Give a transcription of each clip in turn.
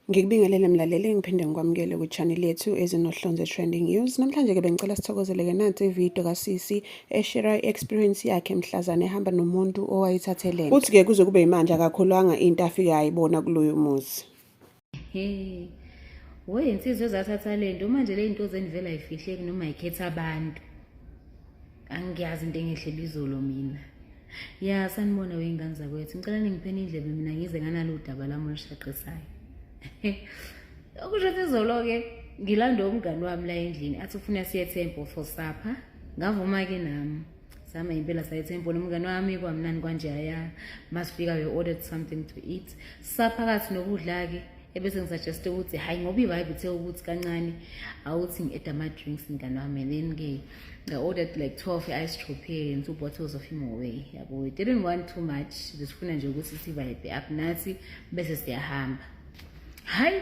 Ngikubingelele mlaleli ngiphinde ngikwamukele kwi-channel yethu ezinohlonze trending news. Namhlanje-ke bengicela sithokozeleke nansi ividiyo kasisi eshera i-experience yakhe mhlazane ehamba nomuntu owayithathelene. Uthi-ke kuze kube yimanje akakhulwanga into afike ayibona kuloyo muzi. Hey. Woy insizwe zathatha lento manje le zinto zenivela ifihleki noma ikhetha abantu. Angiyazi into engehle bizolo mina. Ya sanibona weyingane zakwethu. Ngicela ningipheni indlebe mina ngize nganalo udaba lami olushaqesayo. Okusho ukuthi izolo ke ngilanda umngani wami la endlini athi ufuna siye temple for supper. Ngavuma ke nami. sihamba impela saya ethemponi umngane wami kwamnani kwanje aya masifika we ordered something to eat saphakathi nokudla-ke ebese ngisuggeste ukuthi hhayi ngoba i-vibe uthe ukuthi kancane awuthi ngi-eda ama-drinks mngane wami and then-ke nga-ordered like twelve i-ice tropee and two bottles of imoway yabo we didn't want too much besifuna nje ukuthi sivibe up nathi bese siyahamba hhayi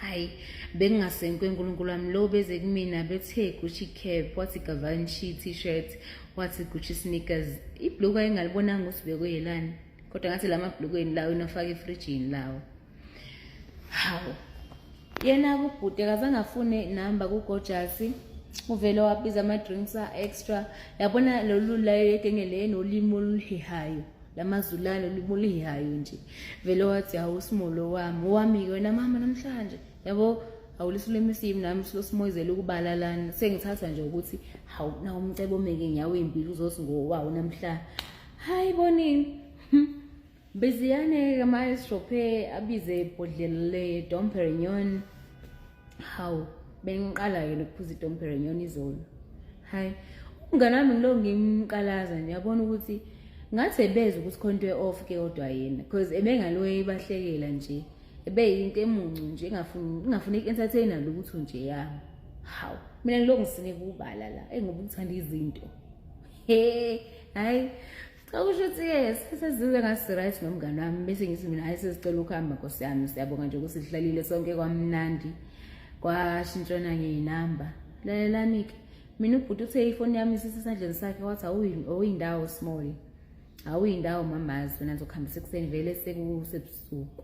hayi bengingasenkwe nkulunkulu wami lo beze kumina bethe gucci cap wathi gavanshi t-shirt wathi gucci sneakers ibhluku ayingalibonanga ukuthi bekuyelani kodwa ngathi la mabhlukweni lawo inofaka efrijini lawo hawu yena kubhuti akazange afune inamba kugojasi uvele wabiza ama-drinks a-extra yabona lolu layo yegenge le nolimi oluhehayo lamazulane ulimi oluyihayo nje vele wathi hawu simolo wami owami-ke wena mama namhlanje yabo awulisilwimi simi nami silosimoyizela ukubala lana sengithatha nje ukuthi hawu na umcebo omeke nyawo impilo uzothi ngowawo namhla hayi bonini hm. beziyane-ke maestrophe abize ibhodlela le domperenyon hawu bengiqala-ke lokuphuza idompere nyona izolo hhayi umngane wami ngilo ngimqalaza nje yabona ukuthi ngathi ebeza ukuthi khona into e-off ke kodwa yena because ebengaloye ibahlekela nje ebeyinto emuncu nje ingafuni i-entertaina lutho nje yami hawu mina ngilokhu ngisine kubala la engoba ukuthanda izinto he hhayi Cha kusho ukuthi-ke ngesikhathi esizuke ngasiright nomngane wami bese ngithi mina hayi sezicela ukuhamba nkosi yami siyabonga nje ukuthi sihlalile sonke kwamnandi kwashintshana ngeyinamba lalelani-ke mina ubhuti uthe ifoni yami isisesandleni sakhe wathi awuyindawo small awuyindawo mamazi wena ngizokuhambisa ekuseni vele sekusebusuku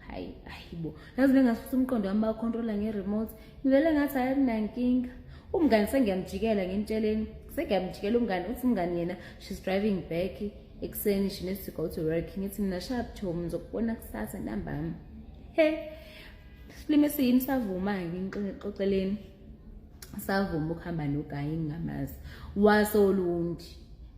hayi ayibo yazi bengasusa umqondo wami bawukhontrola nge-remote ngivele ngathi hayi kunankinga umngani sengiyamjikela ngimtsheleni sengiyamjikela umngani uthi umngani yena she's driving back ekuseni she needs to go to work ngithi mina shap tom ngizokubona kusasa ntambama he silime siyini savuma-ke ngixoxeleni savuma ukuhamba nogayi ngingamazi wasolundi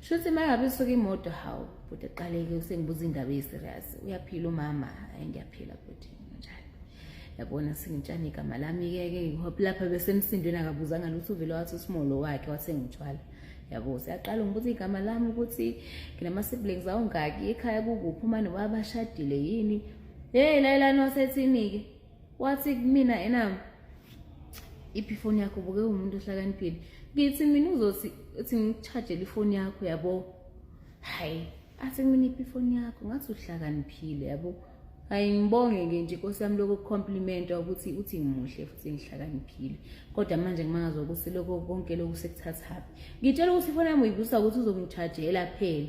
Shuthi mangabe suka imoto hawu bhuti eqaleke usengibuza indaba eyiserious uyaphila umama hayi ngiyaphila bhuti njani yabona singitshani igama lami-ke ke ngihope lapha besemsindweni akabuzanga lutho uvele wathi usimolo wakhe wathengithwala yabo siyaqala ngibuza igama lami ukuthi nginama-siblings awungaki ekhaya kukuphi uma nobaba bashadile yini heyi layelani wasethinike wathi kumina ena iphi ifoni yakho buke umuntu ohlakaniphile ngithi mina uzothi uthi ngikuchajele ifoni yakho yabo hayi athi kumina iphi ifoni yakho ngathi uhlakaniphile yabo hayi ngibonge-ke nje inkosi yami lokho kucomplimentwa ukuthi uthi ngimuhle futhi ngihlakaniphile kodwa manje ngimangaza ukuthi lokho konke lokhu sekuthathaphi ngitshela ukuthi ifoni yami uyibusa ukuthi uzongithajela phela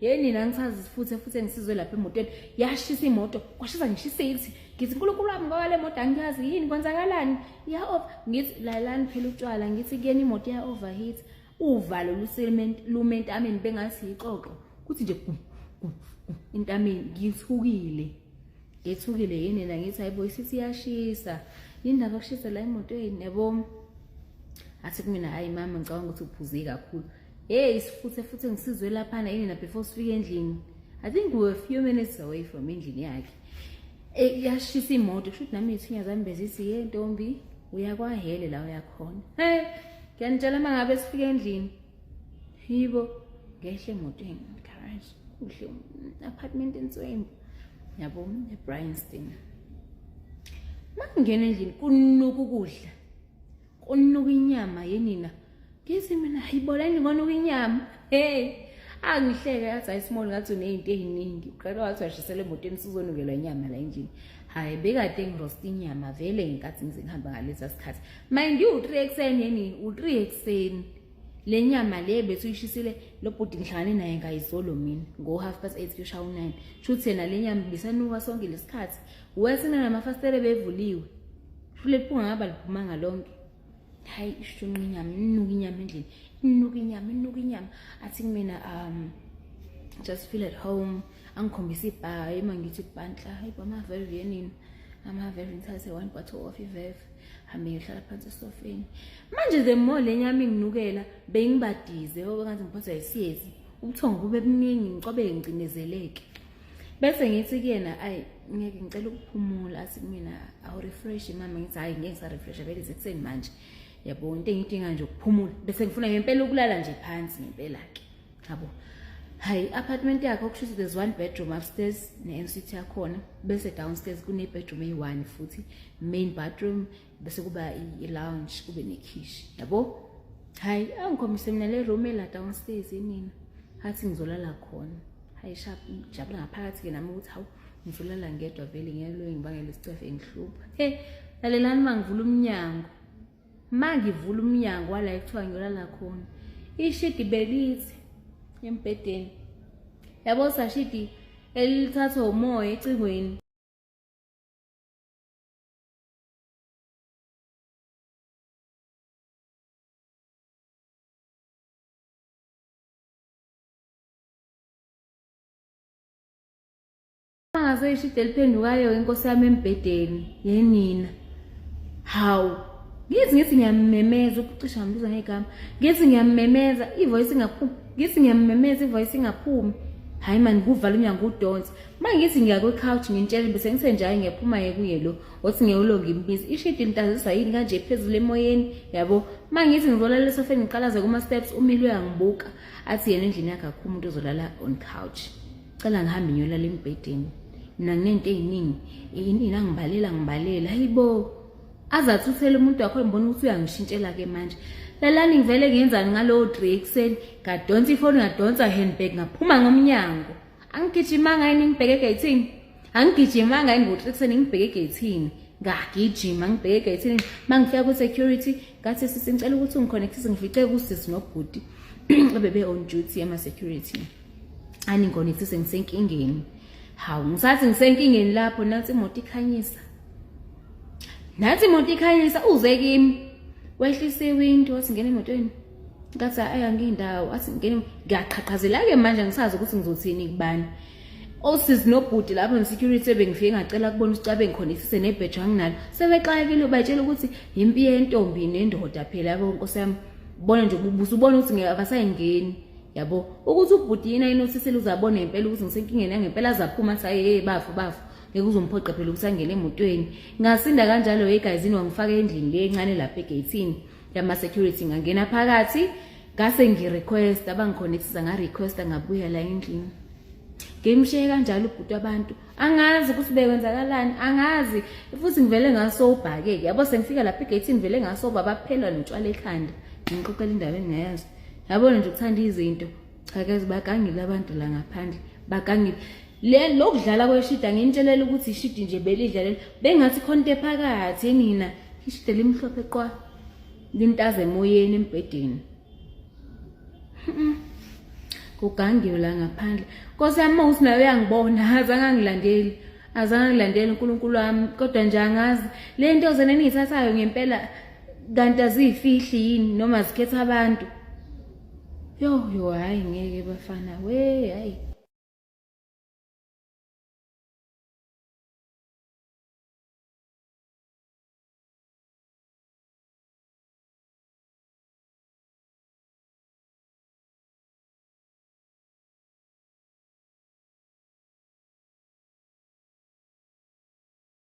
Hey nina ngisazi futhi futhi engisizwe lapha emotweni yashisa imoto kwashisa ngisho isethi ngithi uNkulunkulu wami ngoba le moto angiyazi yini kwenzakalani ya off ngithi lalani phela utshwala ngithi kuyena imoto ya overheat uvalo luselement lumentameni bengathi ixoxo kuthi nje intameni ngithukile ngethukile yini nina ngithi hayibo isithi yashisa yini ndaba kushisa la emotweni yabo athi kumina hayi mama ngicabanga ukuthi uphuze kakhulu Hey isifuthe futhi ngisizwe laphana yini na before sifike endlini. I think we were a few minutes away from endlini yakhe. Eh yashisa imoto kusho ukuthi nami ithinya zami bezithi ye ntombi uya kwahele la uyakhona. Hey ngiyanitshela mangabe sifike endlini. Yibo ngehle emotweni garage kuhle apartment inswembu. Yabo eBryanstein. Mangena endlini kunuka ukudla. Kunuka inyama yenina. Ngithi mina hayiboleni ngonuka inyama. Hey. Angihleke yathi ayisimoli ngathi unezinto eziningi. Uqala wathi washisela emotweni sizonukelwa inyama la endlini. Hayi bekade ngirosta inyama vele ngenkathi ngize ngihamba ngalesa sikhathi. Mind you 3 ekseni yeni u3 ekseni. Le nyama le bethu uyishisile lo bhuti ngihlangane naye ngayizolo mina ngo half past 8 kushawu 9. Shuthi yena le nyama bisanuka sonke lesikhathi. wesina namafasitele bevuliwe fule liphunga ngaba liphumanga lonke hayi ishunqa inyama inuka inyama endlini inuka inyama inuka inyama athi kumina um just feel at home angikhombisa ibhaa ema ngithi bantla hayi bamaveve yenini amaveve ngithathe one bottle of iveve hambe ngiyohlala phansi esofeni manje the more le nyama inginukela bengibadize obengathi ngiphathwa yisiyezi ubuthongo bube buningi ngicobe ngicindezeleke bese ngithi kuyena ayi ngeke ngicela ukuphumula athi kumina awurefresh mama ngithi hhayi ngeke ngisarefresha vele isekuseni manje yabo into engiyidinga nje ukuphumula bese ngifuna ngempela ukulala nje phansi ngempela-ke yabo hhayi i-apartment yakhe okusho ukuthi there's one bedroom upstairs ne-ensuite yakhona bese downstairs kune-bedroom eyi-one futhi main bathroom bese kuba i-lounge kube nekhishi yabo hhayi angikhombise mina le room ela downstairs enina hathi ngizolala khona hhayi sharp ngijabula ngaphakathi-ke nami ukuthi hawu ngizolala ngedwa vele ngiyeloyo ngibangele isicefe ngihlupha he lalelani uma ngivula umnyango uma ngivula umnyango wala ekuthiwa ngiyolala khona ishidi belithi embhedeni yabo sashidi elithathwa umoya ecingweni angase ishide eliphendukayo inkosi yami embhedeni yenina hawu ngithi ngithi ngiyamemeza ukucisha ngibiza ngegama ngithi ngiyamemeza ivoice ingaphumi ngithi ngiyamemeza ivoice ingaphumi hayi mani kuvala umnyango udonse mangithi ngiya kwi-couch ngintshele bese ngisenjayo ngiyaphuma ngekuye lo othi ngewulo ngimbizi ishidi lintazisa yini kanje phezulu emoyeni yabo mangithi ngizolala esofeni ngiqalaze kuma-steps umile uyangibuka athi yena endlini yakhe akho umuntu ozolala on couch cela ngihambe ngiyolala embhedeni mina nginento ey'ningi inina ngibalela ngibalela hayi bo aze athuthele umuntu wakho ngibona ukuthi uyangishintshela-ke manje lalani ngivele ngenzani ngalowo dre ekuseni ngadonsa ifoni ngadonsa handbag ngaphuma ngomnyango angigijimanga yini ngibheke egeyithini angigijimanga yini ngokuthi ekuseni ngibheke egeyithini ngagijima ngibheke egeyithini uma ngifika kwi-security ngathi sisi ngicela ukuthi ungikhonekthise ngifice kusisi nobhuti bebe-on duty ema-security aningikhonekthise ngisenkingeni hawu ngisathi ngisenkingeni lapho nathi imoto ikhanyisa nathi imoto ikhanyisa uze kimi wehlisa iwindi wasingena emotweni ngathi ayi angindawo athi ngene ngiyaqhaqhazela-ke manje ngisazi ukuthi ngizothini kubani osizi nobhuti lapho ne-security ebengifike ngacela kubona ukuthi cabe ngikhonekthise nebheji anginalo sebexakekile batshela ukuthi yimpi yentombi nendoda phela yabo nkosi yami bona nje ububusa ubona ukuthi ngeke abasayingeni yabo ukuthi ubhuti yini ayinothisile uzabona ngempela ukuthi ngisenkingeni yangempela azaphuma athi aye bafo bafo ngeke uzomphoqa phela ukuthi angene emotweni ngasinda kanjalo yegayizini wangifaka endlini le encane lapha egeyithini yama security ngangena phakathi ngase ngirequest abangiconnectisa ngarequesta ngabuya la endlini ngimshiye kanjalo ubhuti abantu angazi ukuthi bekwenzakalani angazi futhi ngivele ngasobhake-ke yabo sengifika lapha egeyithini ngivele ngasoba baphela notshwala ekhanda ngiqoqela indawo engingayazi yabona nje ukuthanda izinto cha ke bakangile abantu la ngaphandle bakangile le lokudlala kweshida ngintshelela ukuthi ishidi nje belidlalela bengathi khonto ephakathi enina ishide limhlophe qwa lintaze emoyeni embhedeni kugangiwe la ngaphandle nkosi yami mawuthi nayo uyangibona azange angilandeli azange angilandeli unkulunkulu wami kodwa nje angazi le nto zena eniyithathayo ngempela kanti aziyifihli yini noma zikhetha abantu yo yo hayi ngeke bafana we hayi